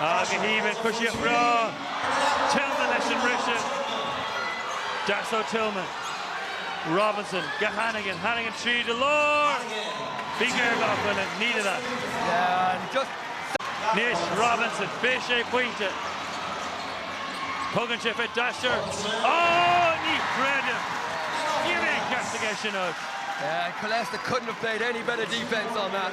Ach go haoibhinn coisíocht bhreá Tillman leis an mbriseadh. Deasóg Tillman. Robinson go Hannigan. Hannigan tríd an lár! Bhí géarghá acu leis. Needed that. Anois Robinson, fé sé pointe. Tugann sé fé Dasher. Ó! Ní chreidim! Níl aon cheart aige é sin a fháil. Killester couldn't have played any better defence on that.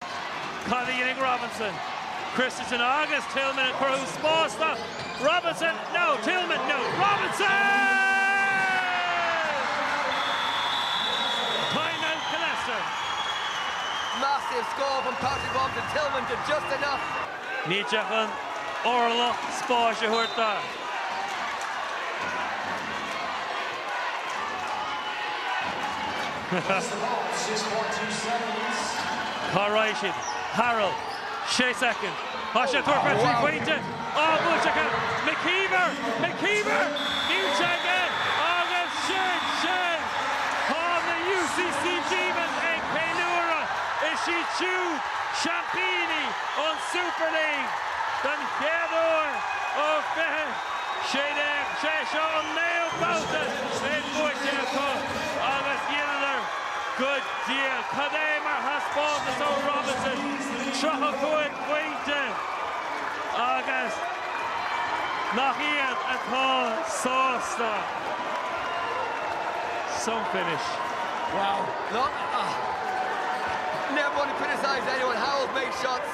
Cad a dhéanfaidh Robinson? Christensen agus Tillman ag cruthú spáis do Robinson. No, Tillman, no, Robinson! Time out Killester. Massive score from Patrick Robinson. Tillman did just enough. Ní ceart aon orlach spáis a thabhairt dó. Cá raghaidh siad? Harrell, sé soicind. Tá sé ag tabhairt fé thrí phointe. Á, buailte acu! McKeever! McKeever! Níl sé aige! Agus sin sin! Tá na UCC Demons ag ceiliúradh! Is iad siúd seaimpíní an Super League den chéad uair ó fiche. sé seo an naoú babhta é buaite acu agus dheineadar go diail. Cad é mar thaispeántas ó Robinson, tríocha cúig phointe agus nach iad atá sásta. Some finish. Wow. Not, ah. Never want to criticize anyone. Harrell made shots.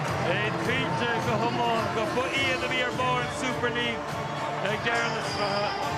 Bheinn cinnte go hiomlán gurb iad a bhí ar bharr an Super League ag deireadh na sraithe.